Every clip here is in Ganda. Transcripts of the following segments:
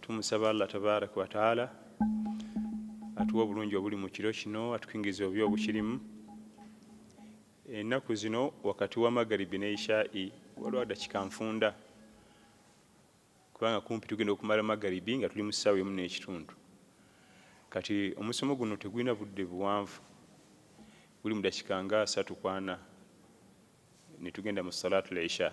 tumusaba allah tabaraka wataala atuwa obulungi obuli mu kiro kino atukingiza obi obukirimu ennaku zino wakati wa magaribi ne ishai waliwo adakika nfunda kubanga kumpi tugenda okumala magaribi nga tuli mu ssaawa emu n'ekitundu kati omusomo guno tegulina budde buwanvu guli mu dakika nga asatu kwana ne tugenda mu salaatu lisha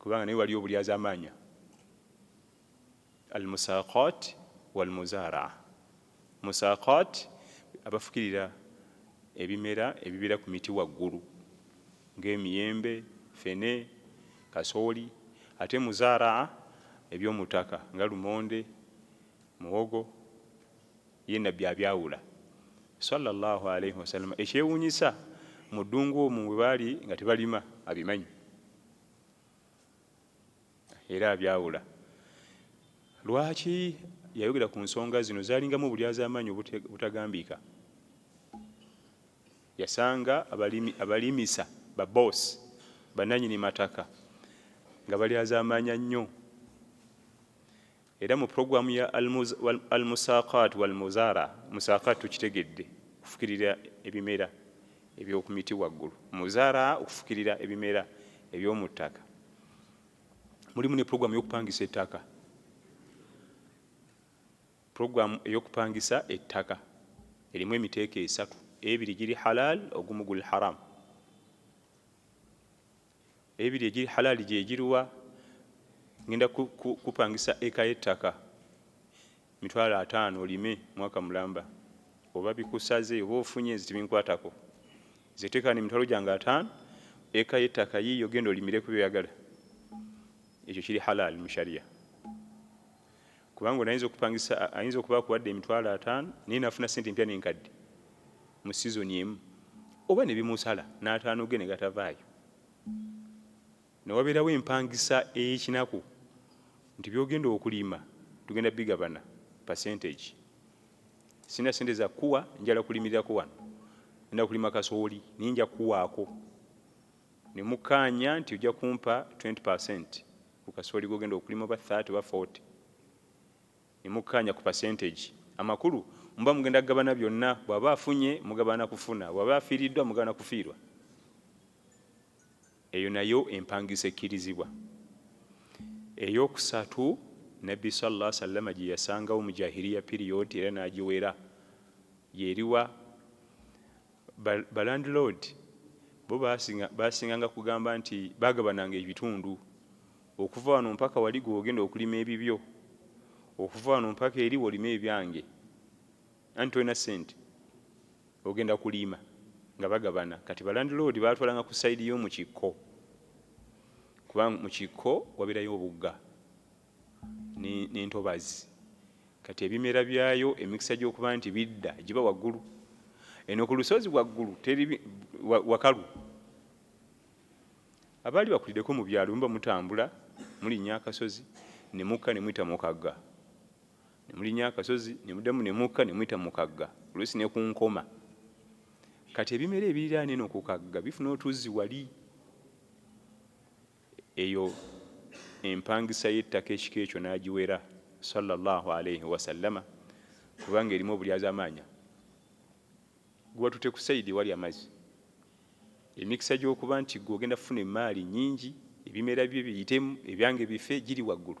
kubanga naye waliyo obulyazamaanya al musaqat wal muzaraa musaqat abafukirira ebimera ebibeera ku miti waggulu ng'emiyembe fene kasooli ate muzaraa eby'omutaka nga lumonde muwogo Ye Nabbi abyawula, swalla Llaahu alaihi wasallama, ekyewuunyisa mu ddungu omwo mwe baali nga tebalima abimanyi era abyawula. Lwaki yayogera ku nsonga zino? Zaalingamu obulyazaamaanyi obutagambiika. Yasanga abalimi abalimisa baboosi bannannyini mataka nga balyazaamaanya nnyo. Era mu program ya Al Musaaqaat wal Muzaara, Musaaqaat tukitegedde okufukirira ebimera ebyokumiti waggulu, Muzaraa okufukirira ebimera ebyomuttaka, mulimu ne program yokupangisa ettaka, program eyokupangisa ettaka erimu emiteeko esatu, ebiri giri halaal ogumu guli haraam. Ebiri egiri halali gyegiruwa? Ngenda kupangisa eka y'ettaka mitwalo ataano olime mwaka mulamba, oba bikusaze oba ofunye nze tebinkwatako. Nze teeka wano emitwalo gyange ataano, eka y'ettaka yiiyo genda olimire ku byoyagala. Ekyo kiri halali mu sharia. kubanga ono ayinza okupangisa ayinza okuba akuwadde emitwalo ataano naye nafuna sente empya nenkadde mu sizoni emu oba nebimusala n'ataano ge negatavaayo newabeerawo empangisa ey'ekinaku nti byogenda okulima tugenda bigabana percentage sina sente zakuwa njala kulimirirako wano enda kulima kasooli naye nja kuwaako ne mukkaanya nti ojja kumpa 20 percent ku kasooli gw'ogenda okulima oba 30 oba 40 ne mukkaanya ku percentage. Amakulu muba mugenda kugabana byonna, bw'aba afunye mugabana kufuna, bw'aba afiiriddwa mugabana kufiirwa. Eyo nayo empangisa ekkirizibwa. Ey'okusatu, Nabbi sallallahu alaihi wasallama gye yasangawo mu Jahiriya period era n'agiwera y'eriwa? Balandiloodi bo baasinganga kugamba nti baagabananga ebitundu, okuva wano mpaka wali gwe ogenda okulima ebibyo, okuva wano mpaka eri wolime ebyange, anti tolina ssente ogenda kuliima nga bagabana. Kati balandiloodi baatwalanga ku sayidi y'omu kikko kuba mu kikko wabeerayo obugga. n'entobazzi kati ebimera byayo emikisa gy'okuba nti bidda giba waggulu eno ku lusozi waggulu teri wakalu abaali bakulideko mu byalo muba mutambula mulinya akasozi ne mukka ne muyita mukagga ne mulinya akasozi ne muddamu ne mukka ne muyita mukagga oluusi ne ku nkoma kati ebimera ebiriraana eno ku kagga bifuna otuzzi wali eyo empangisa y'ettaka ekika ekyo n'agiwera sallallahu alaihi wasallama kubanga erimu obulyazamaanya gubatute ku sayidi ewali amazzi emikisa gy'okuba nti gwe ogenda kufuna emaali nyingi ebimera bye biyitemu ebyange bife giri waggulu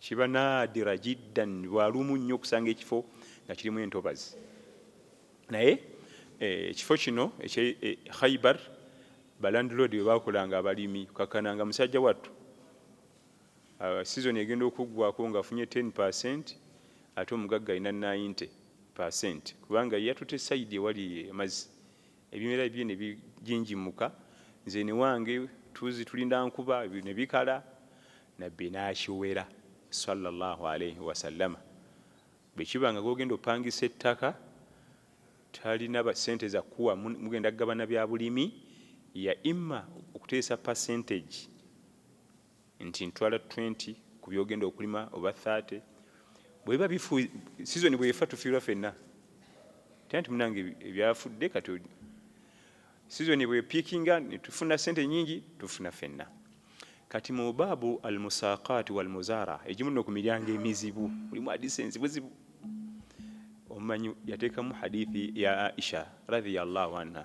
Kiba naadira jiddan, lwa lumu nnyo okusanga ekifo nga kirimu entobazi. Naye eh, ekifo eh, kino ekye eh, Khaibar balandlord bwe baakolanga abalimi, kakananga musajja wattu uh, sizoni egenda okuggwako ng'afunye 10 percent ate omugagga alina 90 percent kubanga yatute sayidi ewali amazzi Ebimera bibye ne bijinjimuka, nze ne wange tuzzi tulinda nkuba ne bikala, Nabbi n'akiwera, swalla Llaahu alaihi wasallama, bwe kiba nga gw'ogenda opangisa ettaka talina ssente za kukuwa mugenda kugabana bya bulimi, ya imma okuteesa percentage. nti ntwala 20 ku byogenda okulima oba 30 bweba bifu sizoni bwefa tufiirwa fenna tena nti munange ebyafudde kati sizoni bwepikinga netufuna sente nyingi tufuna fenna kati mu baabu almusaqaati walmuzaara egimu no ku miryango emizibu mulimu hadisi enzibuzibu omumanyi yateekamu hadithi ya aisha radiyallahu anha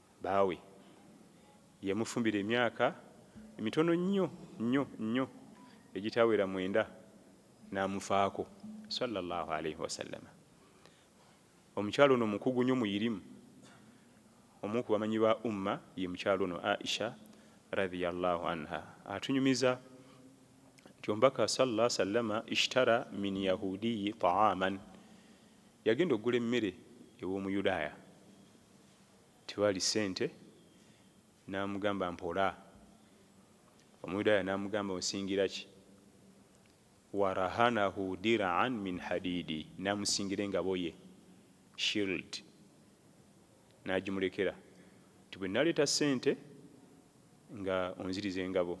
Bbaawe yamufumbira emyaka mitono nnyo nnyo nnyo egitawera mwenda n'amufaako swalla Llahu alaihi wasallama. Omukyala ono mukugu nnyo muyirimu. Omu ku bamanyi ba Umma ye mukyala ono Aisha radhiya Llahu anha atunyumiza nti omubaka swalla wasallama ishtara min yahudiyi taaman, yagenda okugula emmere ew'omuyudaaya. Tewali ssente. N'amugamba, Mpola. Omuyudaaya n'amugamba, Onsingira ki? Warahanahu dir'an min hadiidi, n'amusingira engaboye, shield, n'agimulekera nti, Bwe naleeta ssente nga onziriza engabo.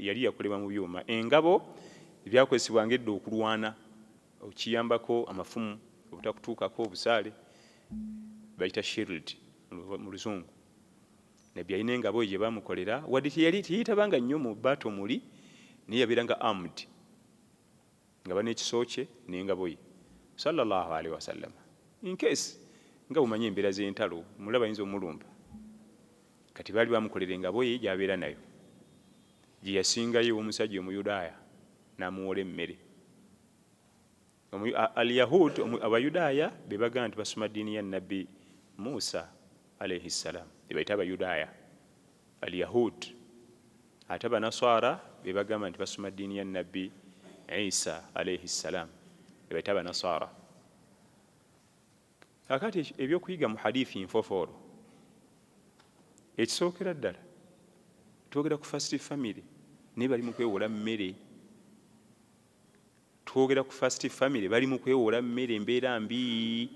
Yali yakolebwa mu byuma. Engabo byakozesebwanga edda okulwana okiyambako amafumu obutakutuukako, obusaale, bayita shield mu luzungu. Nabbi yalina engabo gye baamukolera wadde teyeetabanga nnyo mu battle muli naye yabeeranga armed. nga bana ekiso kye nengabo ye swalla Allahu alaihi wasallama incase nga bumanyi embeera zentalo mulaba ayinza omulumba kati baali bamukolera engabo ye gyabeera nayo gyeyasingayo omusajja omuyudaaya namuwola emmere alyahud abayudaaya bebaga nti basoma ddiini ya nabbi musa Alaihi salaam bebayita abayudaaya alyahud ate abanaswara bebagamba nti basoma ddiini ya nabbi isa alaihi salaam bebayita abanaswara akati ebyokuyiga mu hadithi nfofoolo ekisookera ddala twogera ku first family naye bali mu kwewola mmere twogera ku first family bali mu kwewola mmere embeera mbii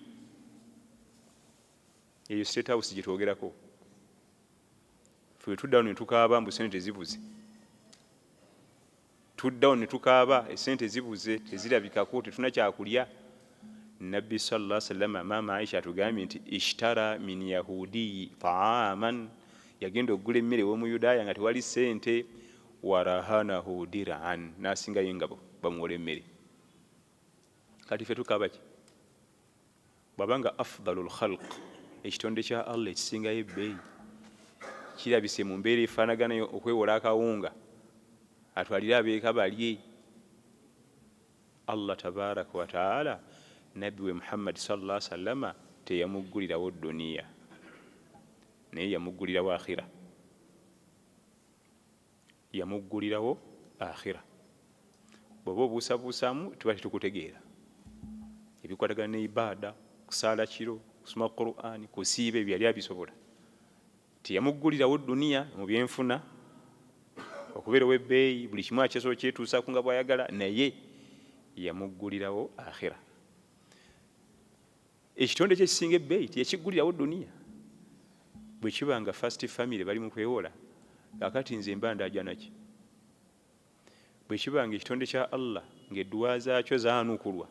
eyo state house gyetwogerako fe tuddawo netukaaba mbu sente zibuze tuddawo netukaaba esente zibuze tezirabikako tetuna kyakulya nabbi sala salama maama aisha atugambye nti ishtara min yahudiyi taaman yagenda okugula emmere womuyudaaya nga tewali sente warahanahu diraan nasingayo engabo bamuwola emmere kati fe tukaabaki Bw'aba nga afdalul khalq, ekitonde kya Allah ekisingayo ebbeeyi, kirabise mu mbeera efaanagana eyo, okwewola akawunga atwalire abeeka balye, Allah tabaaraka wa ta'aala Nabbi we Muhammadi sallallaahu alaihi wasallama teyamuggulirawo dduniya naye yamuggulirawo akhira. Yamuggulirawo Akhira. Bw'oba obuusabuusaamu tuba tetukutegeera. Ebikwatagana ne Ibaada, kusaala kiro, kusoma Qur'an, kusiiba ebyo yali abisobola. Teyamuggulirawo Duniya mu byenfuna, okubeera ow'ebbeeyi, buli kimu akyasobola okyetuusaako nga bw'ayagala naye yamuggulirawo Akhira. ekitonde kyekisinga ebbeeyi teyakiggulirawo duniya bwe kiba nga first family bali mu kwewola kakati nze mba ndajanaki bwe kiba nga ekitonde kya allah ng'edduwa zaakyo zaanukulwa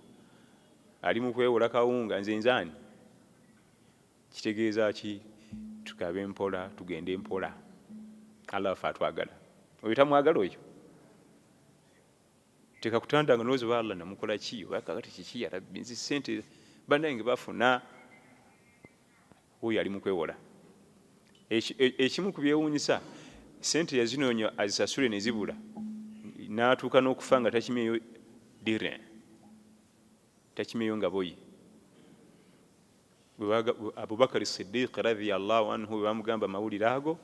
ali mu kwewola kawunga nze nzaani kitegeeza ki tukabe mpola tugende mpola allah wafe atwagala oyo tamwagala oyo teka kutanda nga nozi ba Allah namukola ki oba kakati kiki ya rabbi nzi sente banange bafuna oyo ali mukwewola ekimu ku byewunyisa sente yazinoonya azisasule ne zibula n'atuuka n'okufa nga takimyeyo dirin takimyeyo nga boyi abubakari sidiiki radiyallahu anhu bwe bamugamba amawulire ago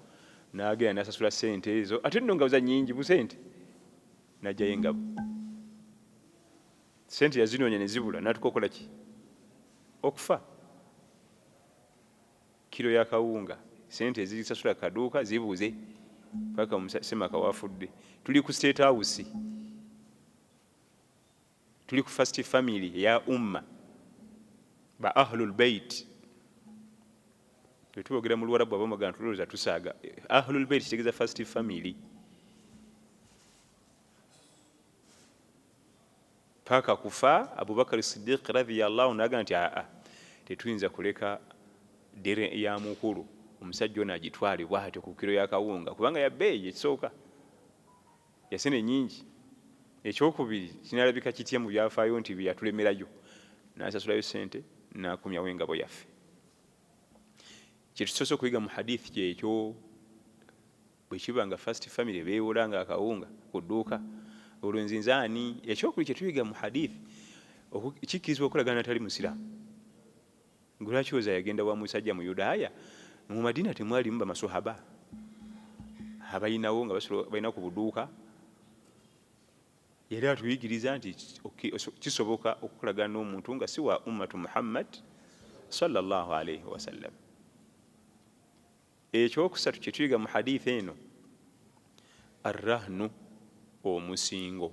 n'agenda n'asasula sente ezo ate nno nga za nyingi busente n'ajjayo engabo sente yazinoonya ne zibula n'atuka okola ki okufa kiro ya kawunga sente ezisasula kaduuka zibuuze paka semaka wafudde tuli ku state house Tuli ku first family eya umma ba ahlul bait twetubogera mu luwarabu abamagana tulowooza tusaaga ahlul bait kitegeza first family paka kufa abubakari sidiq radhiyallahu nagamba nti aa tetuyinza kuleka dere ya mukulu omusajja ono agitwale bwatyo ku kiro yakawunga kubanga yabeeyi ekisooka Yasene nyingi. Ekyokubiri kinalabika kitya mu byafaayo nti bye yatulemerayo n'asasulayo ssente n'akomyawo engabo yaffe? Kye tusoose okuyiga mu hadiithi kyekyo bwe kiba nga first family beewola nga akawunga ku dduuka olwo nze nze ani? Ekyokubiri kye tuyiga mu hadiithi kikkirizibwa okolagana natali musiraamu. Gwe lwaki oza yagenda wa musajja mu Yudaaya? Mu Madina temwalimu bamaswahaba abalinawo nga balina ku buduuka? Yali atuyigiriza nti kisoboka okukolagana n'omuntu nga si wa ummatu Muhammad sallallahu alaihi wasallam. Ekyokusatu kye tuyiga mu hadithi eno, arrahnu omusingo.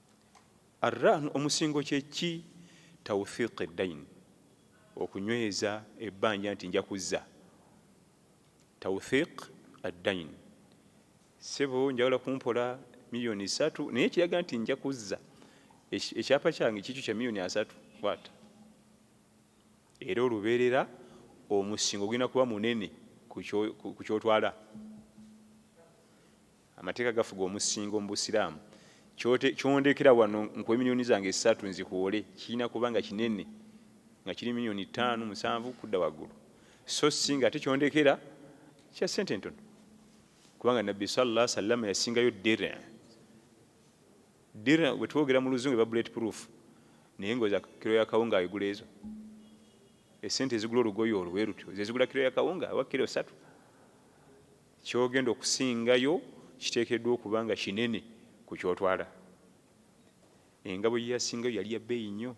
Arrahn omusingo kye ki? Tawthiq eddain, okunyweza ebbanja nti nja kuzza. Tawthiq addain, ssebo njagala kumpola miliyoni ssatu naye ekiraga nti nja kuzza ekyapa kyange kikyo kya miliyoni asatu bwata. Era olubeerera omusingo gulina kuba munene ku kyotwala. Amateeka gafuga omusingo mu busiraamu. Kyote, kyondekera wano nkuwe millioni zange ssatu nzihoole kirina kuba nga kinene nga kiri millioni ttaanu, musanvu kudda waggulu so ssi nga ate kyondekera kya ssente entono kubanga Nabbi swalla Allahu sallama yasingayo dir dir bwe twogera mu luzungu eba bullet proof naye ngoza kiro ya kawunga ayigula ezo esente ezigula olugoye olwo bwe lutyo zezigula kiro ya kawunga oba kiro satu Ky'ogenda okusingayo kiteekeddwa okuba nga kinene ku ky'otwala. Engabo gye yasingayo yali ya bbeeyi nnyo,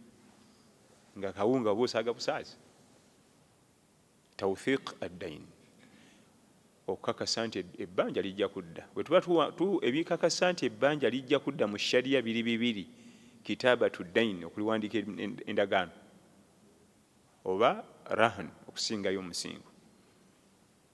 ng'akawunga oba osaaga busaazi. Tawthiq ad-dayn, Okukakasa nti ebbanja lijja kudda. Bwe tuba tu, ebikakasa nti ebbanja lijja kudda mu Sharia biri bibiri, Kitaabatu ad-dayn, okuliwandiika endagaano, oba Rahn, okusingayo omusingo.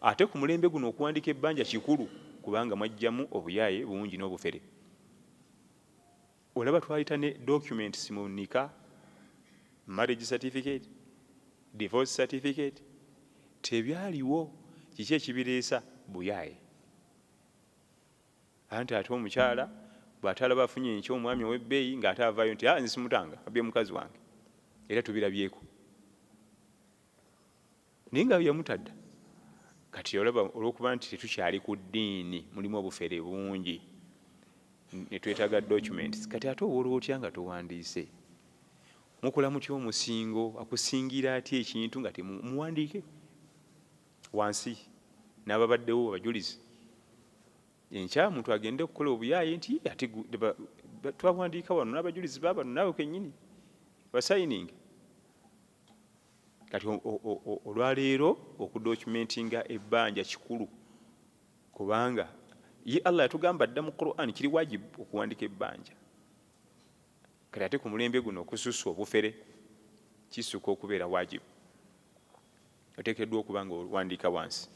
Ate ku mulembe guno okuwandiika ebbanja kikulu kubanga mwajjamu obuyaaye bungi n'obufere. Olaba twayita ne documents mu nika, marriage certificate, divorce certificate, tebyaliwo kiki ekibireesa? Buyaaye. Anti ate omukyala bw'ate alaba afunye enkya omwami ow'ebbeeyi ng'ate avaayo nti ah nze simutanga abbye mukazi wange era tubirabyeko. naye nga yamutadda kati olaba olwokuba nti tetukyali ku ddiini mulimu obufere bungi netwetaga documents kati ate owola otya nga towandiise mukola mutya omusingo akusingira atya ekintu nga temuwandiike wansi n'ababaddewo abajulizi enkya muntu agende okukola obuyaaye nti ate twawandiika wano n'abajulizi babano naawe kenyini basayininga Kati olwaleero okudocumentinga ebbanja kikulu kubanga ye Allah yatugamba dda mu Quran kiri wajib okuwandika ebbanja. Kati ate ku mulembe guno okususa obufere kisuka okubeera wajib, otekeddwa okuba nga owandiika wansi.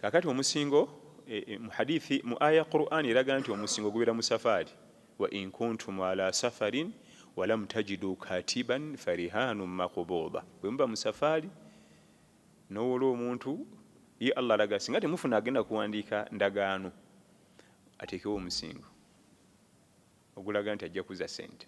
Kakati omusingo e, e, mu hadithi mu aya ya Qur'an eraga nti omusingo gubeera mu safaari wa in kuntum ala safarin walam tajidu katiban farihanu makubuda bwe muba musafaali nowola omuntu ye allah alaga singa temufuna agenda kuwandiika ndagaano ateekewo omusingo ogulaga nti ajja kuza sente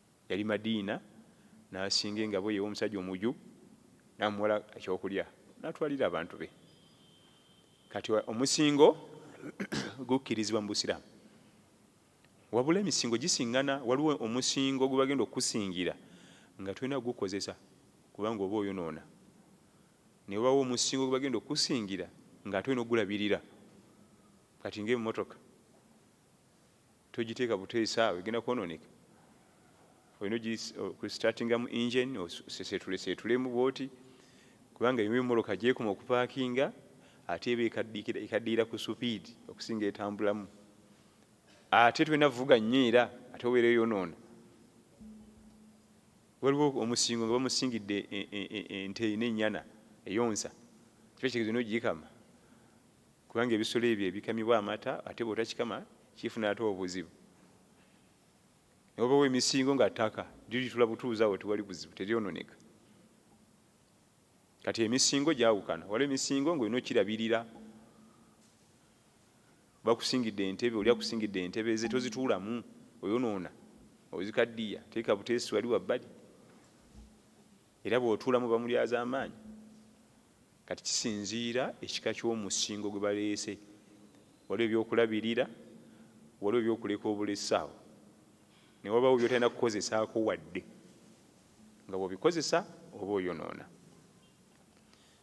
Yali Madiina n'asinga engabo ye ew'omusajja omuju n'amuwala ekyokulya n'atwalira abantu be. Kati omusingo gukkirizibwa mu Busiraamu. Wabula emisingo gisingana, waliwo omusingo gwe bagenda okukusingira nga tolina kugukozesa kubanga oba oyonoona. Ne wabaawo omusingo gwe bagenda okukusingira ng'ate olina okugulabirira kati ng'emmotoka. togiteeka buteesi awo egenda kwononeka olina okusitartingamu engine oseseetuleseetulemu bwoti kubanga eyo emoloka gyekuma okupaakinga ate eba ekaddiira ku supiidi okusinga etambulamu ate tulina vuga nnyo era ate obeera eyonoona waliwo omusingo nga bamusingidde e, e, e, ente ina ennyana eyonsa kiba kitegeeza olina ogiyikama kubanga ebisolo ebyo ebikamibwa amata ate bwotakikama kifuna ate obuzibu nobawo emisingo nga taka liritula butuuzi awo tewali buzibu teryononeka kati emisingo gyawukana waliwo emisingo ngaolina okirabirira bakusingidde entebe oli akusingidde entebe ze tozituulamu oyonoona ozikaddiya teeka buteesi wali wabbali Era bw'otuulamu bamulyazaamaanyi. Kati kisinziira ekika ky'omusingo gwe baleese. Waliwo eby'okulabirira, waliwo eby'okuleka obulesi awo, ne wabaawo by'otalina kukozesaako wadde. Nga bw'obikozesa oba oyonoona.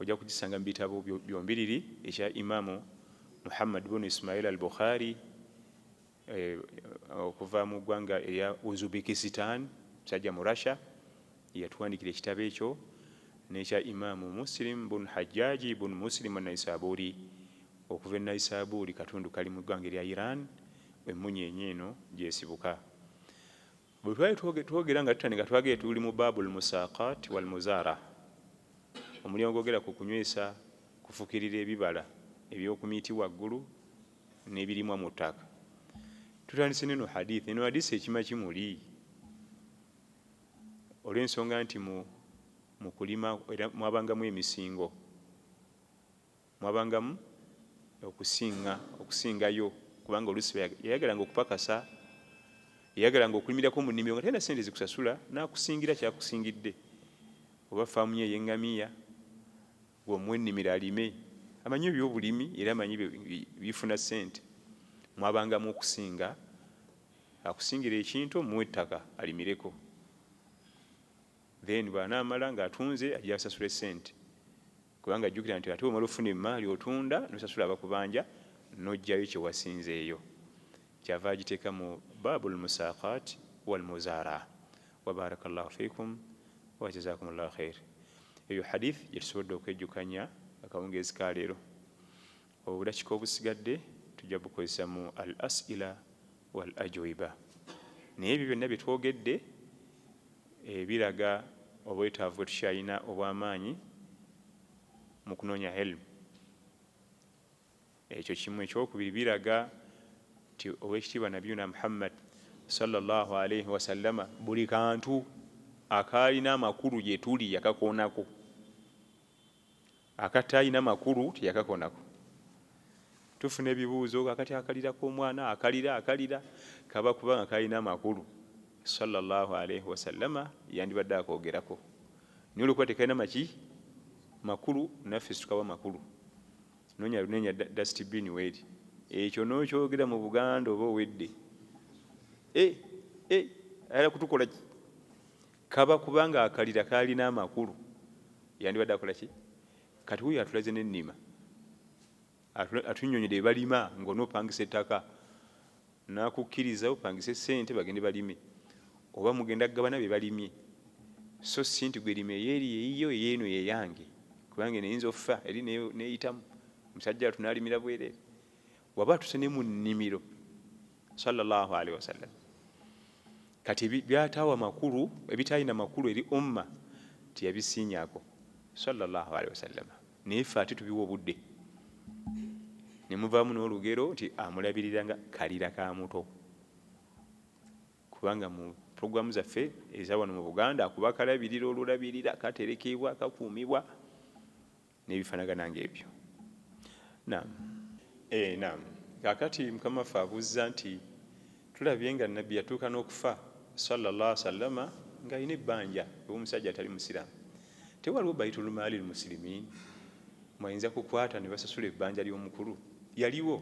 ojja kugisanga mu bitabo byombiriri ekya imamu muhammad bunu ismail al bukhari eh, okuva mu ggwanga erya uzbekistan musajja mu russia yatuwandikira ekitabo ekyo nekya imamu muslim bun hajjaji bun muslim naisaburi okuva e naisaburi katundu kali mu ggwanga erya iran emunyenye eno gyesibuka bwe twali twogera nga tutandika twagere tuli mu baabul musaqat wal muzara omulyango gwogera ku kunywesa kufukirira ebibala ebyokumiti waggulu n'ebirimwa mu ttaka tutandise neno hadith eno hadisi ekima kimuli olw'ensonga nti mu kulima era mwabangamu emisingo Mwabangamu okusinga, okusingayo, kubanga oluusi baya, yayagalanga okupakasa, yayagalanga okulimirako mu nnimiro nga talina ssente zikusasula, n'akusingira ky'akusingidde. Oba ffaamu ye ey'engamiya, gwe omuwa ennimiro alime. Amanyi eby'obulimi era amanyi bi, bi, bifuna ssente. Mwabangamu okusinga, akusingira ekintu omuwe ettaka alimireko. Then bw'anaamala ng'atunze ajja asasule ssente. Kubanga jjukira nti ate bw'omala okufuna emmaali otunda n'osasula abakubanja n'oggyayo kye wasinzeeyo. Ky'ava agiteeka mu Baabul Musaaqaat wal Muzaaraa. Wa baaraka Llaahu fiikum wa jazaakumu Llaahu khayr. Eyo hadiith gye tusobodde okwejjukanya akawungeezi ka leero. Obudakika obusigadde tujja bukozesa mu al asila wal ajuiba naye ebyo byonna byetwogedde eh, biraga obwetaavu bwetukyalina obwamaanyi mu kunoonya helmu ekyo kimu ekyokubiri biraga nti owekitiibwa nabiyuna muhammad salllah alaihi wasallama buli kantu akaalina amakulu gyetuli yakakoonako Akataalina makulu teyakakonako. Tufuna ebibuuzo kakati akalira k'omwana akalira akalira kaba kuba nga kalina amakulu sala llahu alaihi wasallama yandibadde akogerako naye olwokuba tekalina maki makulu naffe situkawa makulu nonya lunenya dastibini weeri ekyo nokyogera mu buganda oba owedde e, e, ayala kutukolaki Kaba kuba nga akalira kalina amakulu yandibadde akola ki? Kati wuyo atulaze ne nima atunyonyede bebalima nga onopangisa ettaka nakukiriza opangise sente bagende balime oba mugenda kugabana bebalimye so si nti gwe lima eyeri eyiyo eyeno yeyange kubanga eno eyinza offa eri neyitamu musajja watu nalimira bwerere waba atuse ne mu nnimiro sallallahu alaihi wasallam kati byatawa makulu ebitalina makulu eri umma tiyabisinyako sallallahu alaihi wasallam naye fe ate tubiwa obudde nemuvaamu n'olugero nti amulabirira nga kalira ka muto kubanga mu programu zaffe eza wano mu buganda akuba kalabirira olulabirira katerekeebwa kakuumibwa nebifanagana nga ebyo nam e, eh, nam kakati mukama ffe abuuzza nti tulabye nga nabbi yatuuka n'okufa sallallah sallama nga alina ebbanja ew'omusajja atali musiraamu tewaliwo baitulmaali lmusilimin mwayinza kukwata ne basasula ebbanja ly'omukulu yaliwo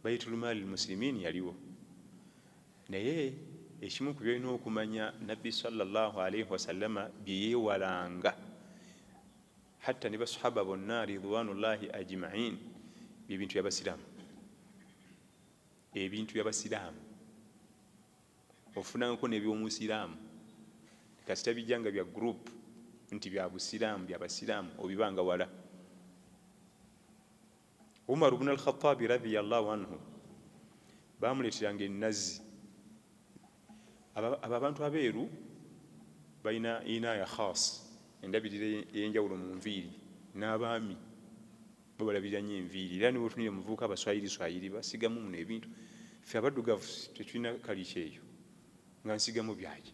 baitulmaali lmusilimin yaliwo Naye ekimu ku byolina okumanya Nabbi swalla Llahu alaihi wasallama bye yeewalanga hatta ne Baswahaba bonna ridwaanu llahi ajimain bye bintu bya Basiraamu. Ebintu bya Basiraamu ofunangako n'eby'Omusiraamu kasita bijja nga bya group nti bya Busiraamu bya Basiraamu obibanga wala. Umaru bnu Alkhatabi radhiyallahu anhu bamuleeteranga ennazi. Abo abantu abeeru balina inaaya khas, endabirira ey'enjawulo mu nviiri. N'abaami bo balabirira nnyo enviiri, era niwe otunira omuvubuka abaswayiriswayiri basigamu muno ebintu. Ffe abaddugavu tetulina kalica eyo nga nsigamu byaki.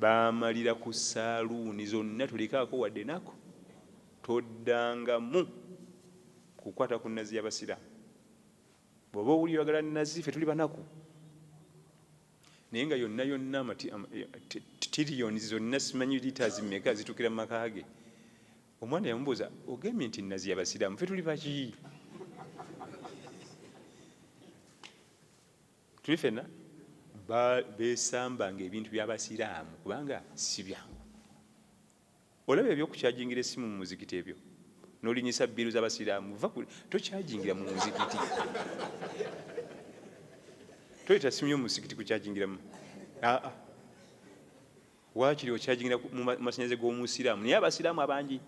baamalira ku saaluuni zonna tolekaako wadde nako toddangamu kukwata ku nazi y'abasiraamu bw'oba owulira oyagala nazi ffe tuli banaku naye nga yonna yonna tiriyoni zonna simanyi liters meka zitukira mu maka ge omwana yamubuuza ogambye nti nazi y'abasiraamu ffe tuli baki Tuli fena besamba nga ebintu bya basiraamu kubanga sibyangu. Olaba ebyo kukyajingira essimu mu muzikiti ebyo nolinyisa bbiru za basiraamu va tokyajingira mu muzikiti. Toyita ssimu yo mu musikiti kukyajingiramu. Aa. wakiri okyajingira mu masanyalaze g'omusiraamu naye abasiraamu abangi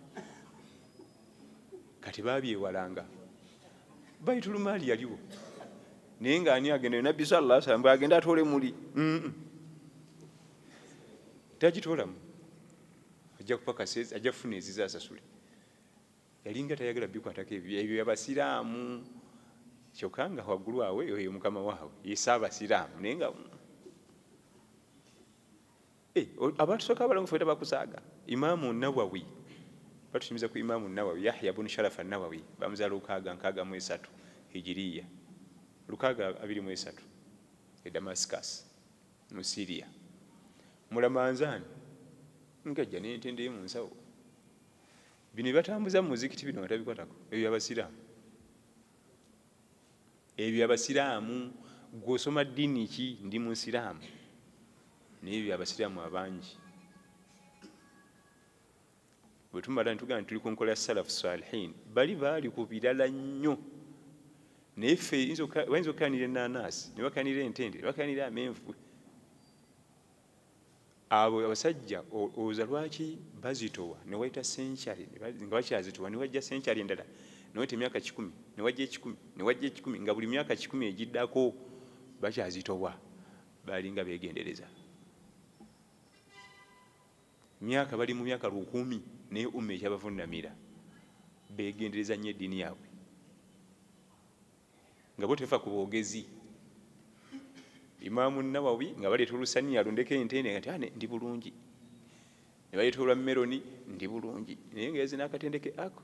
kati babyewalanga baitulumaali yaliwo naye nga ani agenda nabbi salla salam bwe agenda atoole muli tagitoolamu ajja kupakasa ajja kufuna eziza asasule yalinga tayagala bikwatako ebyo abasiraamu kyokka nga waggulu awe oyo mukama waabwe yesa abasiraamu naye nga Eh, abantu soka abalongo feta bakusaaga imaamu nawawi batunyumiza ku imaamu nawawi yahya bunu sharafa nawawi bamuza lukaaga nkaaga mu esatu hijiriya lukaaga abiri mu esatu e damascus mu siria mulamanzaani ngajja nentende yo mu nsawo bino bibatambuza mu muzikiti bino nga tabikwatako ebyo abasiraamu Ebyo abasiraamu gwe osoma ddiini ki? Ndi musiraamu naye ebyo abasiraamu abangi bwe tumala netugamba tuli ku nkola ya salafu salihin bali baali ku birala nnyo naye ffe bayinza okukanira enanaasi ne bakanira entende ne bakanira amenvu Abo abasajja olowoza lwaki bazitowa newayita century nga bakyazitowa newajja century endala newayita emyaka kikumi newajja ekikumi newajja ekikumi nga buli myaka kikumi egiddako bakyazitowa balinga begendereza myaka bali mu myaka lukumi naye umma ekyabavunamira begendereza nnyo eddiini yaabwe Nga bo tefa ku bogezi. Imam Nawawi nga baleeta olusaniya alundeko entende kati ane ndi bulungi. Ne baleeta olwa meloni ndi bulungi. Naye nga yaze n'akatendeke ako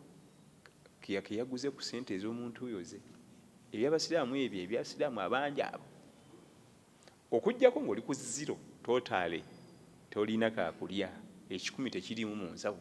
ke yaguze ku sente ez'omuntu oyo ze. Eby'Abasiraamu ebyo eby'Abasiraamu abangi abo. Okuggyako ng'oli ku zero totally tolina kaakulya ekikumi tekiriimu mu nsawo.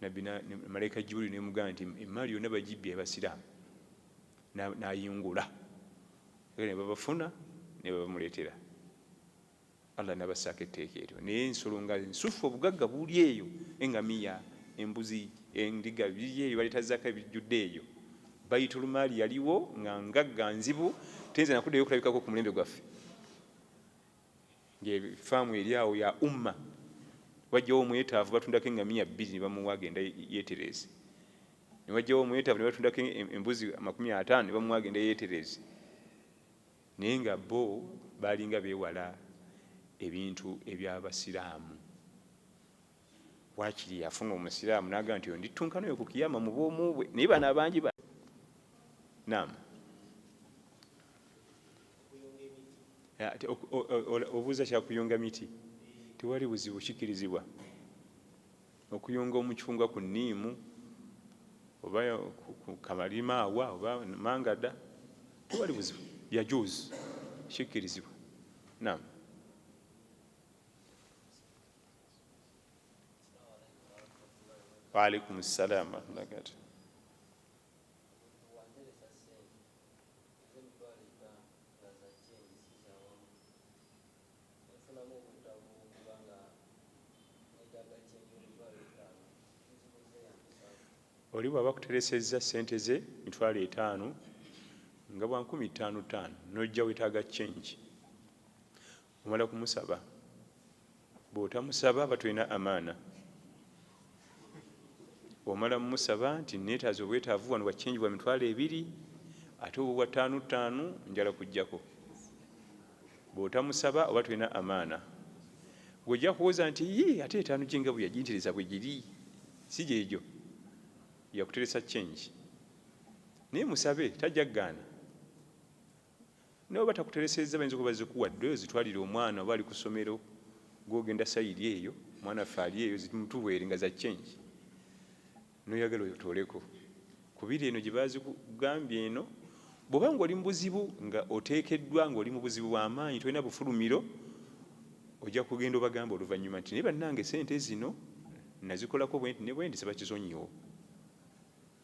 Nabbi na, ne, malaika Jibril nemugamba nti emmaali yonna bagibbye abasiraamu nayingula era nebabafuna nebabamuleetera Allah nabassaako etteeka eryo naye ensolo nga nsufu obugagga buli eyo engamiya embuzi endiga biri eyo baleeta zaka ebijjudde eyo baitulumaali yaliwo nga ngagga nzibu teyinza nakuddayo okulabikako ku mulembe gwaffe ngefaamu eri awo ya umma wajjawo omwetaavu batundako engamiya bbiri nebamuwa agenda yetereze newajjawo omwetaavu nebatundako embuzi amakumi ataano nebamuwa agenda yetereze naye nga bo balinga bewala ebintu ebyabasiraamu wakiri yafuna omusiraamu naga nti ondittunkana oyo kukiyama mubwomu bwe naye bano abangi ba naam obuuza kyakuyunga miti tewali buzibu kikirizibwa okuyunga omucungwa ku niimu oba kamalima awa oba mangada tewali buzibu yajuuzi kikirizibwa nam waalaikum ssalamu warahmatullahi wabarakatuh oli bwaba kuteresezza sente ze mitwalo etaano nga bwa nkumi ttaano ttaano nojja wetaaga change Omala kumusaba bwotamusaba aba tolina amaana omala musaba nti netaaza obwetaavu wano bwa change bwa mitwalo ebiri ate obwo bwa ttaano ttaano njala kujjako bwotamusaba oba tolina amaana gwojja kuwoza nti yi ate etaano gyenga bweyajintereza bwe giri si gyegyo yakuteresa change naye musabe tajja kugaana nawe batakuteresezza bayinza okuba zikuwadde oyo zitwalire omwana oba ali ku ssomero gwogenda sayiri eyo omwana ffe ali eyo zimutubwere nga za change noyagala oyo tooleko kubiri eno gye bazigambye eno bwoba nga oli mu buzibu nga oteekeddwa nga oli mu buzibu bw'amaanyi tolina bufulumiro ojja kugenda obagamba oluvannyuma nti naye bannange sente zino nazikolako bwenti ne bwenti sibakizonyiwo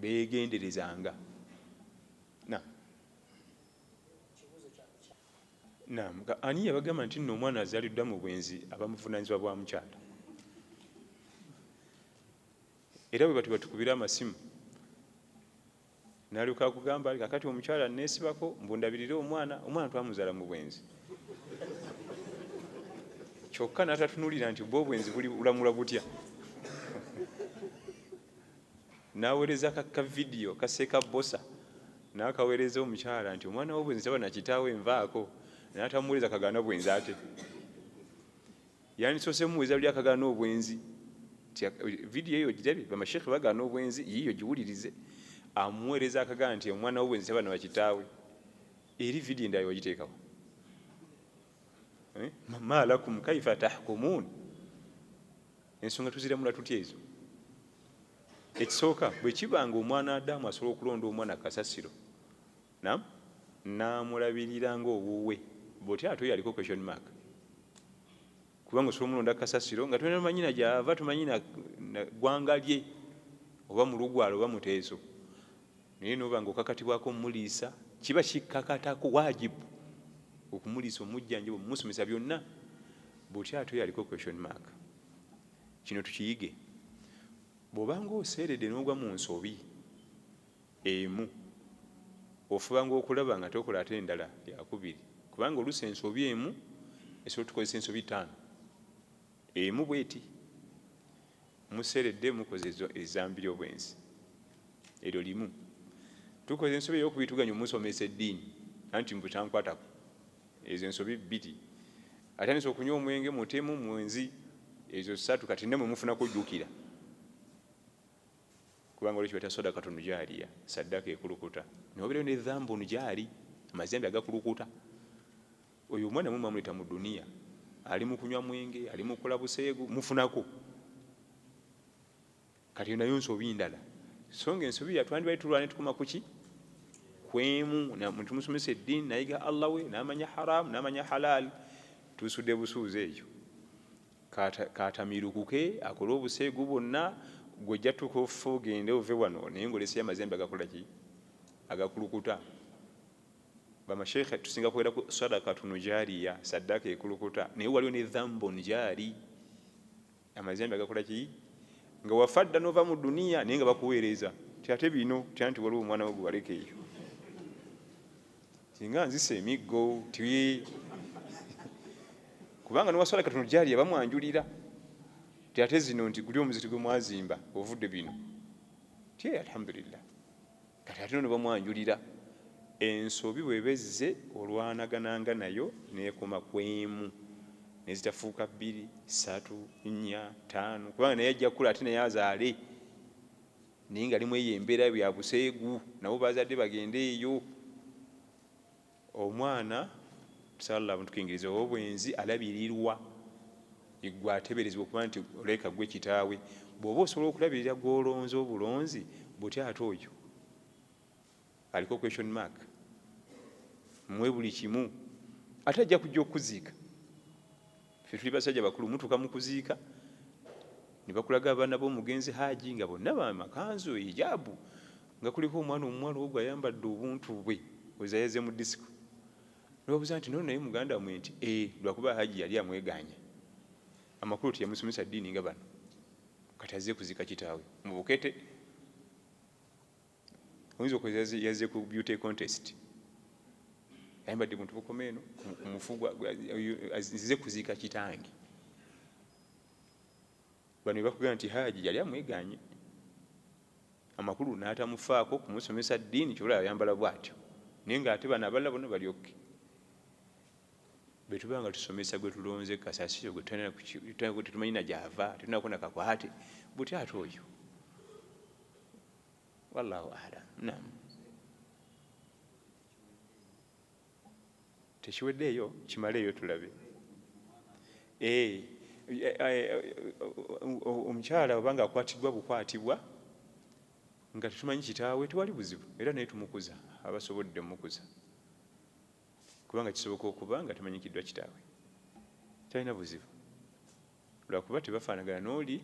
beegenderezanga na Naam, nga ani yabagamba nti nno omwana azaliddwa mu bwenzi abamuvunaanyizibwa bwa mukyala era bwe bati batukubira amasimu nalyoka akugamba kakati omukyala neesibako mbundabirire omwana omwana twamuzala mu bwenzi kyokka natatunulira nti bwe obwenzi bulamula butya Nawereza ka ka video kaseka bbosa nakawereza omukyala nti omwana wo bwenzi taba nakitaawe nvaako natamuwereza kagaana bwenzi ate yandisose muweza luli akagaana obwenzi video eyo ojirabye bamashekhe bagaana obwenzi yiyo giwulirize amuwereza akagaana nti omwana wo bwenzi taba nabakitaawe eri video endala wagiteekawo eh? malakum kaifa tahkumun Ensonga tuziramula tutya ezo? Ekisooka bwe kiba nga omwana Adamu asobola okulonda omwana kasasiro nam n'amulabirira ng'owuwe bw'otyo ate oyo aliko question mark kubanga osobola omulonda kasasiro nga tolina manyina gy'ava tomanyi na ggwanga lye oba mulugwala oba muteeso naye noba nga okakatibwako omuliisa kiba kikakatako wajibu okumuliisa omujjanjaba omusomesa byonna bwotyo ate oyo aliko question mark kino tukiyige bwobanga oseerede nogwa mu nsobi emu ofubanga okulaba nga tokola ate endala yakubiri kubanga olusa ensobi emu esobola tukozesa ensobi taano Emu bweti, museredde mukoze ezambi lyobwenzi eryo limu, tukoze ensobi eyokubiri tuganye omusomesa eddiini anti mbu tankwatako, ezo ensobi bbiri, atandise okunywa omwenge, mutemu, mwenzi, ezo ssatu kati namwe mufuna kujjukira kubanga olwekyo bata sadakatu nujaliya saddaka ekulukuta noberayo ne dhambun jaali amazambi agakulukuta Oyo omwana mwe mwamuleta mu dunia ali mukunywa mwenge ali mukola buseegu mufunako kati nayo nsobi ndala so nga ensobi yatwandibali tulwane tukoma kuki kwemu tumusomesa eddiini nayiga allah we namanya haramu namanya halal tusude busuuzi ekyo katamirukuke akole obuseegu bwonna gwejja tuka offa ogende ove wano naye ngaoleseyamazembe agakolaki agakulukuta Bamasheikhe tusinga kwogera ku sadakatun jariya, saddaaka ekulukuta, naye waliwo ne dhambun jari, amazambi agakola ki nga wafa dda nova mu duniya naye nga bakuweereza ti ate bino ti anti waliwo omwana we gwewaleka eyo singa nzisa emiggo ti kubanga nowasadakatun jariya bamwanjulira ti ate zino nti guli omuziti gwe mwazimba ovudde bino ti alhamdulillah Kati ate ono bamwanjulira ensobi bweba ezze olwanagananga nayo nekoma kwemu nezitafuuka bbiri satu nnya taano kubanga naye ajja kukula ate naye azaale naye nga limweyo embeera byabuseegu nabo bazadde bagende eyo Omwana Allah amutukingirize owobwenzi alabirirwa yegwe ateberezebwa okuba nti olabika gwe kitaawe bwoba osobola okulabirira gwolonze obulonzi butya ate oyo aliko question mark mwe buli kimu ate ajja kujja okuziika Ffe tuli basajja bakulu mutuka mukuziika nebakulaga abaana bomugenzi Haji nga bonna bamakanzu hijabu nga kuliko omwana omuwala ogwo ayambadde obuntu bwe oza yaze mu disiko nobabuza nti nono naye muganda mwe nti e eh, lwakuba Haji yali amweganye amakulu teyamusomesa ddiini nga bano kati azze kuzika kitaawe mubukete oyinza okoza yazze ku beauty contest ayambadde buntu bukoma eno kumufu zize kuziika kitange bano bakugamba nti haaji yali amweganye amakulu n'atamufaako kumusomesa ddiini kyola ayambala bwatyo naye nga ate bano abalala bona balyokke bwetuba nga tusomesa gwe tulonze kasasiro gwetetumanyi na gyava tetunako nakakwate butya ate oyo wallahu alam nam tekiweddeeyo kimaleeyo tulabe eh, eh, eh, omukyala obanga akwatiddwa bukwatibwa nga tetumanyi kitaawe tewali buzibu era naye tumukuza abasobodde mukuza kubanga kisoboka okuba nga temanyikiddwa kitaawe talina buzibu lwakuba tebafanagana noli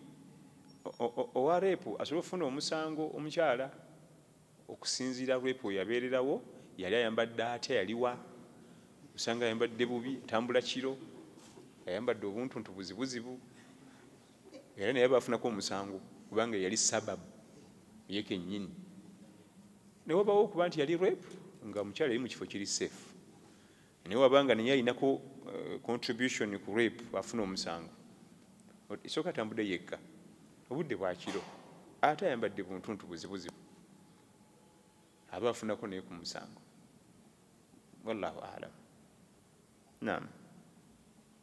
owa rape asobola okufuna omusango omukyala okusinzira rape weyabererawo yali ayambadde atya yaliwa osanga ayambadde bubi atambula kiro ayambadde obuntuntu buzibuzibu era naye bafunako omusango kubanga yali sababu yekenyini newabawo okuba nti yali rape nga omukyala yali mukifo kiri safe Naye waba nga naye alinako eh, contribution ku rape afuna omusango. Isooka atambudde yekka obudde bwakiro ate ayambadde buntuntu buzibuzibu aba afunako naye ku musango. Wallahu alam. Naam.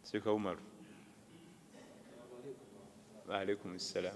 Sheikh Umar. Wa alaikum salam.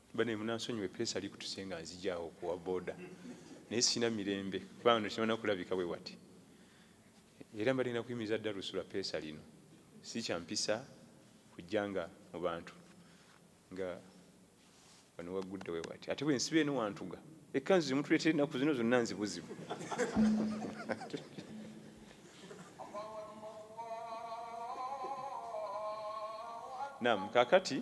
Bane munansonyiwa epeesa likutuse nga nzija awo kuwa boda naye sina mirembe kuba no kimana kulabika bwe wati era mbadde na kuyimiza dda lusula peesa lino si kyampisa kujja nga mu bantu nga wano waggudde we wati ate bwe nsiba eno wantuga ekkanzu zimutuleetera ennaku zino zonna nzibuzibu nam kakati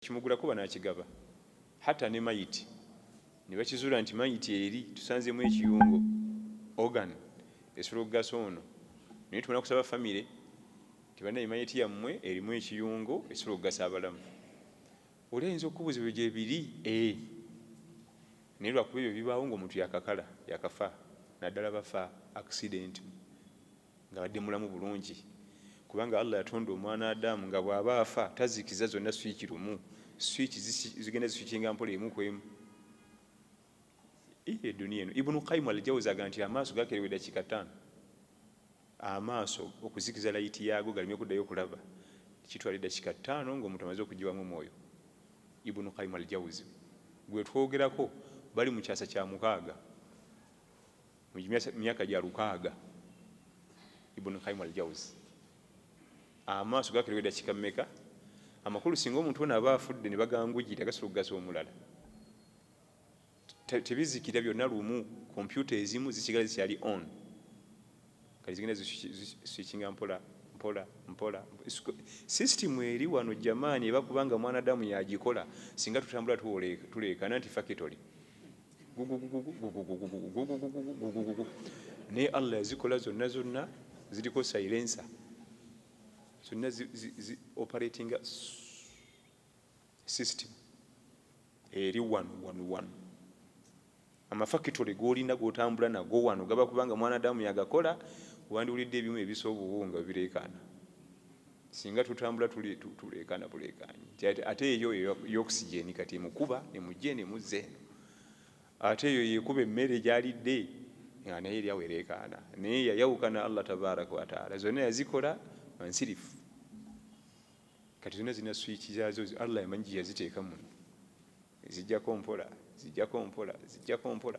Kimugula kuba n'akigaba hata ne mayiti ne bakizuula nti mayiti eri tusanzeemu ekiyungo organ esobola okugasa ono naye tubona kusaba famire nti banaye mayiti yammwe erimu ekiyungo esobola okugasa abalamu oli ayinza okukubuza ebyo gyebiri e eh. naye lwakuba ebyo bibaawo ngaomuntu yakakala yakafa naddala bafa accident ng'abadde mulamu bulungi kubanga Allah yatonda omwana Adam nga bw'aba afa tazikiza zonna swiiki lumu swiiki zigenda ziswikinga mpola emu ku emu eyo eduniya eno Ibn Qayyim al-Jawzi aga nti amaaso gakerewa eddakiika ttaano amaaso okuzikiza layiti yaago galeme kuddayo okulaba kitwala eddakiika ttaano ng'omuntu amaze okugiwamu omwoyo Ibn Qayyim al-Jawzi gwe twogerako bali mu kyasa kya mukaaga mu myaka gya lukaaga ibuni kaimu aljawuzi amaaso gakerewa edakika mumeka amakulu singa omuntu ono aba afudde ne bagangujira gasobola okugaza omulala tebizikira byonna lumu kompyuta ezimu zisigala zikyali on kati zigenda ziswikinga mpola mpola mpola system eri wano jamani eba kubanga mwanadamu yagikola singa tutambula tuleekana nti fakitole naye allah yazikola zonna zonna ziriko silensa zonna operatinga system eri wano wano wano amafakitole golina gotambula nago wano gaba kubanga mwanadamu yagakola wandiwulidde ebimu ebisa obuwunga bireekaana Singa tutambula tuleekaana buleekaanyi nti ate eyo y'okusigyeni kati emukuba emugye nemuzza eno ate eyo yekuba emmere gyalidde nga naye eri awo ereekaana naye yayawukana Allah tabaraka wataala zonna yazikola nsirifu kati zonna zirina swiiki zaazo Allah yamanyi gye yaziteeka muno zijjako mpola zijjako mpola zijjako mpola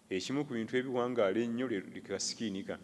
ekimu ku bintu ebiwangaala ennyo lwe kasikiini kano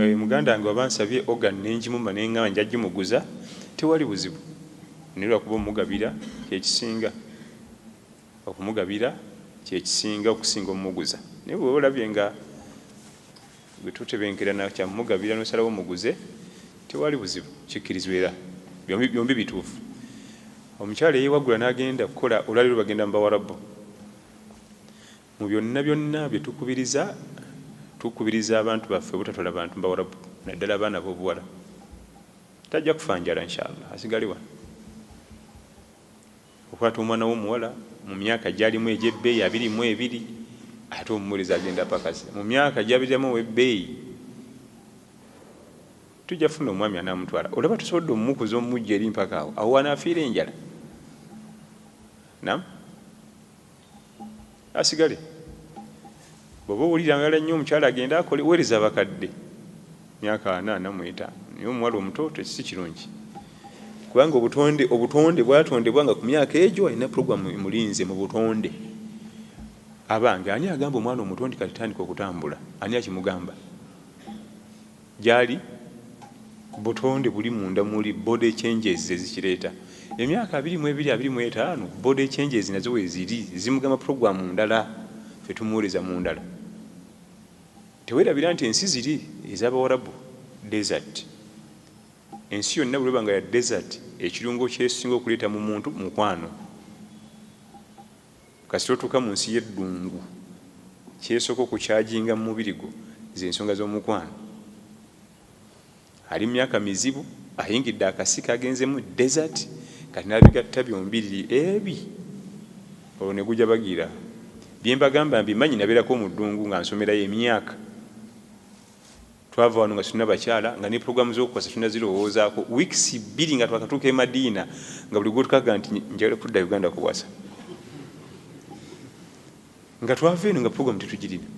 Eh, muganda wange waba nsabye organ nenjimuma nengamba nja jimuguza tewali buzibu naye lwakuba omugabira kyekisinga okumugabira kyekisinga okusinga omuguza naye bweoba olabye nga bwetutebenkerana kyamugabira nosalawo omuguze tewali buzibu kikkirizwa era byombi bituufu omukyala eyewagula nagenda kukola olwaliro bagenda mubawarabu Mu byonna byonna bye tukubiriza, tukubiriza abantu baffe obutatwala bantu bawarabu naddala abaana b'obuwala. Tajja kufa njala inshallah asigale wano. Okwata omwana w'omuwala mu myaka gyalimu egy'ebbeeyi abiri mu ebiri ate omuwuliriza agenda apakase mu myaka gyabiriramu ow'ebbeeyi tujja funa omwami anamutwala olaba tusobodde omukuza omujja eri mpaka awo awo wanaafiira enjala nam asigale bwoba owulira ngala nnyo omukyala agende akole wereza abakadde myaka ana namwetaano naye omuwala omuto tekisi kirungi kubanga obutonde obutonde bwatondebwa nga ku myaka egyo alina programu emulinze mu butonde abange ani agamba omwana omuto nti katitandika okutambula ani akimugamba Gyali, butonde buli munda muli, body changes zezikireeta. Emyaka abiri mwebiri, abiri mwetaano, body changes nazo weziri, zimugamba program ndala, ffe tumuwereza mundala. Tewerabira nti ensi ziri ezabawarabu desert. Ensi yonna bweba nga ya desert, ekirungo kyesinga okuleeta mumuntu mukwano. Kasita otuuka mu nsi y'eddungu, ky'esooka okukyaginga mu mubiri gwo ze nsonga z'omukwano. Ali mu myaka mizibu, ayingidde akasiko, agenzemu desert, kati n'abigatta byombiriri ebi, olwo ne gujabagira. Bye mbagamba mbimanyi, nabeerako mu ddungu nga nsomerayo emyaka. Twava wano nga tulina bakyala nga ne pulogulaamu z'okukwasa tulina zirowoozaako wiikisi bbiri nga twakatuuka e Madiina nga buli gwotukaga nti njagala kudda Uganda kuwasa nga twava eno nga pulogulaamu tetugirina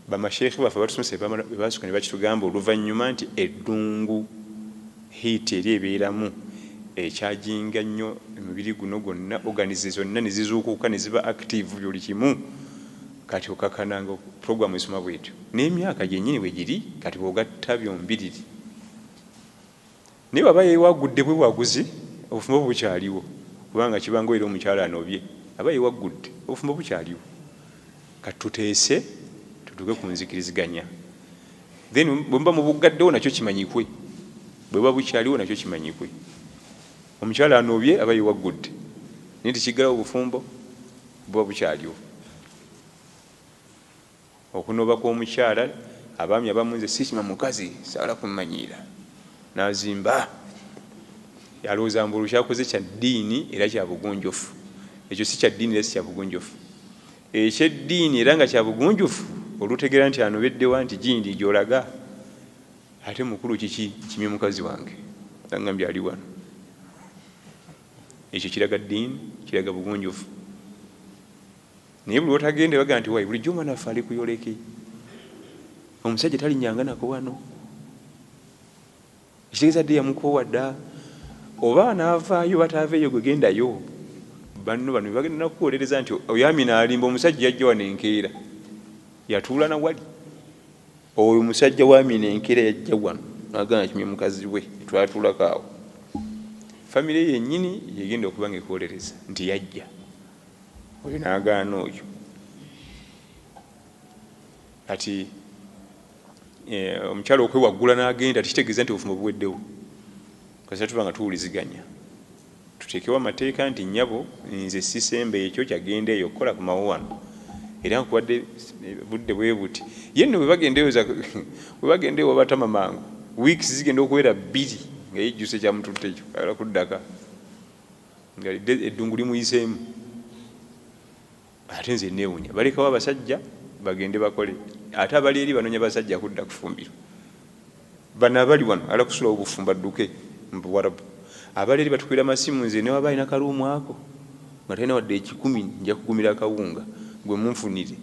bamasheekhe baffe abatusomesa bebasooka ne bakitugamba oluvannyuma nti eddungu hiiti eri ebeeramu ekyajinga nnyo emibiri guno gwonna oganize zonna ne zizuukuka ne ziba active buli kimu Kati okakana nga program esoma bwetyo nemyaka gyenyini bwegiri kati bwogatta byombiriri naye bwaba yewaggudde bwewaguzi obufumbo bukyaliwo kubanga kibanga oyira omukyala anobye aba yewaggudde obufumbo bukyaliwo kati tuteese tutuuke ku nzikiriziganya then bwemuba mubuggaddewo nakyo kimanyikwe bwebuba bukyaliwo nakyo kimanyikwe omukyala anobye aba yewaggudde naye tekiggalawo obufumbo Buba bukyaliwo okunooba kw'omukyala. Abaami abamu nze sikima mukazi sagala kumanyiira nazimba yalowooza mbu olwo kyakoze kya ddiini era kya bugunjufu. Ekyo si kya ddiini era si kya bugunjufu. Eky'eddiini era nga kya bugunjufu olutegeera nti anobeddewa nti gindi gy'olaga ate mukulu kiki kimye mukazi wange nga ngambye ali wano Ekyo kiraga ddiini, kiraga bugunjufu. Naye buli wotagende baga nti wayi bulijjo omwana waffe ali kuyoleke, omusajja talinyanga nako wano, ekitegeeza dde yamukoowa dda. Oba anaavaayo bataaveeyo, gwe gendayo. Banno bano bagenda nakuwolereza nti oyo Amina alimba, omusajja yajja wano enkeera yatuula na wali Oyo musajja wa mina enkera yajja wano nagamba nti kimye mukazi we twatulako awo famire yenyini yegenda okuba nga ekolereza nti yajja oyo nagaana oyo kati eh, omukyalo okwewaggula n'agenda tekitegeeza nti obufumbo buweddewo kasita tuba nga tuwuliziganya Tuteekewo amateeka nti nnyabo nze sisemba ekyo kya genda eyo okukola komawo wano era nkuwadde budde bwe buti. Ye nno bwe bagenda eyo za bwe bagenda ewa Batama mangu weeks zigenda okuwera bbiri nga yejjusa ekyamututte ekyo ayagala kuddaka nga eddungu limuyiseemu. Ate nze newunya balekawo abasajja bagende bakole ate abali eri banonya basajja kudda kufumbiro bano abali wano ala kusulawo bufumba duke mbuwarabu abali eri batukira masimu nze newaba alina kaluumu ako nga talina wadde ekikumi nja kugumira akawunga gwe munfunire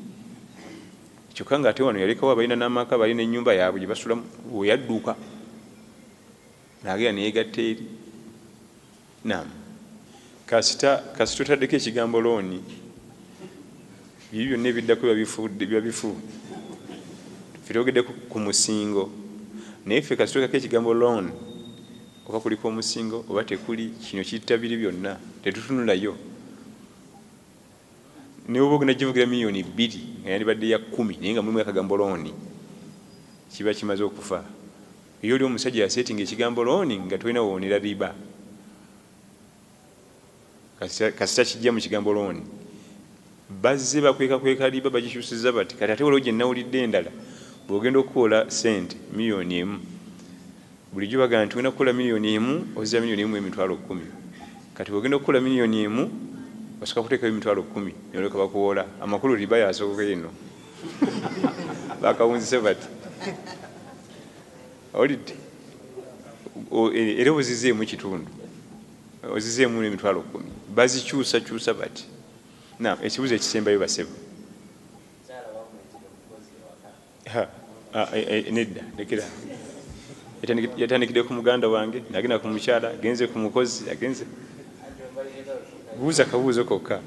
kyokka nga ate wano yalekawo abalina n'amaka balina ennyumba yaabwe gye basulamu weyadduka naagera neyegatta eri Naam. Kasita kasita otaddeko ekigambo looni, biri byonna ebiddako biba bifu, biba bifu. Ffe twogedde ku- ku musingo, naye ffe kasita oteekako ekigambo loan, oba kuliko omusingo oba tekuli, kino kitta biri byonna, tetutunulayo. New Book ne givugira millioni bbiri nga yandibadde ya kkumi naye nga mulimu akagambo loan kiba kimaze okufa. Eyo oli omusajja yasetinga ekigambo loan nga tolina wowonera riba kasita, kasita kijja mu kigambo loan bazze bakwekakweka riba bagikyusiza bati kati ate waliwo gye nnawulidde endala bw'ogenda okukuwola ssente millioni emu Bulijjo bagamba nti wena kukola million emu ozza million emu emitwalo kumi kati wegenda okukola million emu osoka kutekayo emitwalo kumi noleka bakuwola amakulu riba yasoka eno bakawunzise bati olidde e, era ozizeemu kitundu ozizeemu nemitwalo kumi bazikyusa kyusa bati na ekibuzo ekisembayo basebo Ah, eh, eh, nedda lekera yatandikidde ku muganda wange nagenda ku mukyala agenze ku mukozi agenze buuza kabuuzo kokka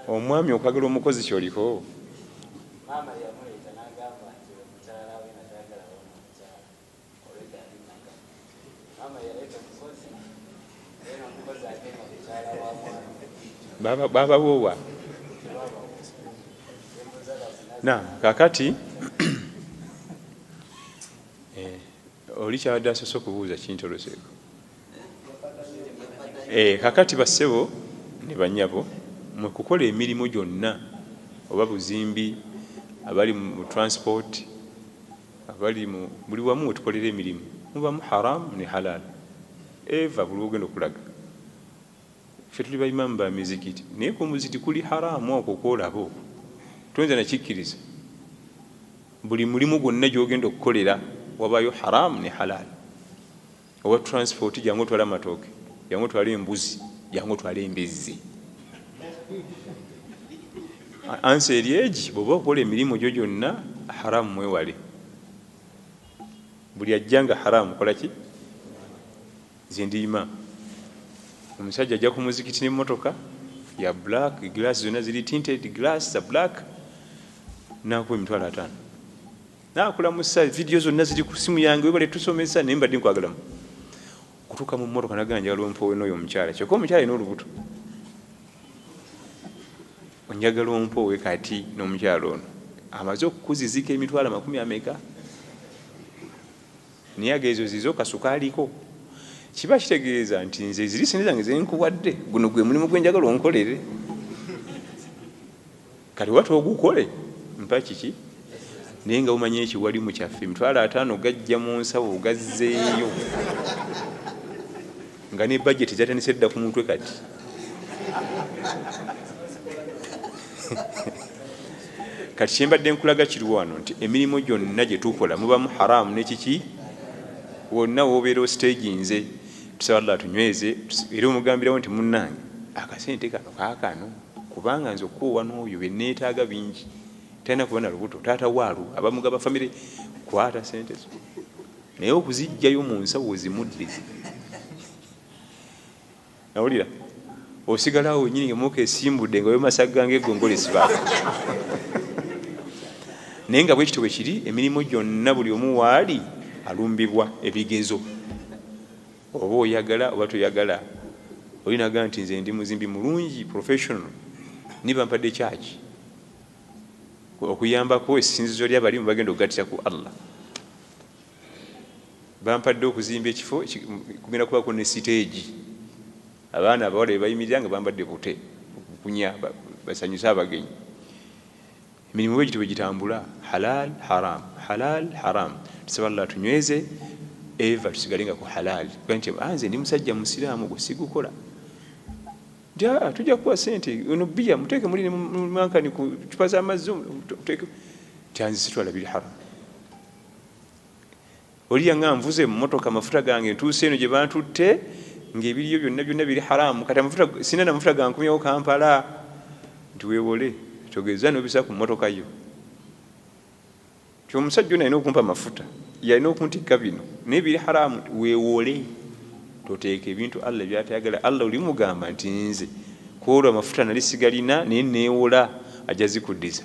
omwami okwagala omukozi kyoliko babawowa na kakati eh, oli kyabadde asose okubuuza kintoloseeko eh, kakati bassebo ne banyabo mwe kukola emirimu gyonna oba buzimbi abali mu transport Abali mu buli wamu wetukolera emirimu mubamu Haram ne Halal ever buli wogenda okulaga ffe tuli ba Imam ba mizikiti naye kumuziti kuli Haram okwo kwolaba okwo toyinza nakikkiriza buli mulimu gwonna gyogenda okukolera wabayo Haram ne Halal. owa transport jangu otwala amatooke jangu otwala embuzi jangu otwala embizzi ansa eri egi bweoba okola emirimu gyo gyonna haramu mwewale buli ajja nga haramu kola ki zindiima omusajja ajja ku muzikiti n'emmotoka ya black glass zonna ziri tinted glass za black nakuba emitwalo ataano Nakulamusa video zonna ziri ku simu yange webale tusomesa naye mbadde nkwagalamu kutuuka mu mmotoka nagamba njagala ompowe n'oyo omukyala kyokka omukyala alina olubuto onjagala ompowe kati n'omukyala ono amaze okukuzizika emitwalo amakumi ameka naye ageezo zizo kasukaaliko kiba kitegeeza nti nze ziri sente zange zenkuwadde guno gwe mulimu gwenjagala onkolere kati watu ogukole mpa kiki naye nga umanyi ekyo wali mukyaffe emitwalo ataano gajja mu nsawo gazzeeyo nga ne bajeti zatandise dda ku mutwe kati kati kyembadde nkulaga kiri wano nti emirimu gyonna gye tukola mubamu haramu nekiki wonna wobeera ositegi nze tusaba llah tunyweze era omugambirawo nti munnange akasente kano kakano kubanga nze okukoowa n'oyo bye neetaaga bingi talina kuba na lubuto taata waalu abamugaba famire kwata sente zo naye okuziggyayo mu nsawo ozimudde nawulira osigala awo wenyini ngamuka esimbudde nga wemasaga ngaegongolo esibaako naye nga bwekityo bwe kiri emirimu gyonna buli omu waali alumbibwa ebigezo Oba oyagala oba toyagala oli naga nti nze ndi muzimbi mulungi professional ni bampadde kyaki okuyambako esinzizo lya balimu bagenda okugatira ku Allah bampadde okuzimba ekifo kugenda kubako ne siteegi abaana abawala bebayimirira nga bambadde bute okukunya basanyuse abagenyi Emirimu bwegityo bwegitambula halal haram halal haram tusaba Allah atunyweze ever tusigale nga ku halal kuba nti ah, nze ndi musajja musiraamu gwe sigukola nti aa ah, tujja kukuwa sente ono bbiya muteeke muli nemankani ku cupa z'amazzi muteeke nti anze sitwala biri haram Oli yanga nvuze emmotoka amafuta gange ntuuse eno gye bantutte ng'ebiriyo byonna byonna biri haraamu kati amafuta sina na mafuta gankomyawo Kampala nti weewole togeza n'obisa ku mmotoka yo ti omusajja ono alina okumpa amafuta yalina okuntikka bino naye biri haraamu weewole toteeka ebintu allah byatayagala allah olimugamba nti nze kwolwo amafuta nali sigalina naye neewola ajja zikuddiza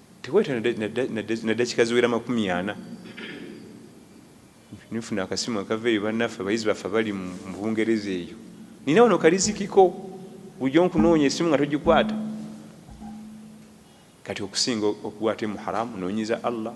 tewayita na dakika ziwera makumi ana nifuna akasimu akava eyo bannaffe abayizi baffe abali mu bungereza eyo nina wano kalizikiko bujo nkunoonya esimu nga togikwata kati okusinga okuwate muharamu nonyiza allah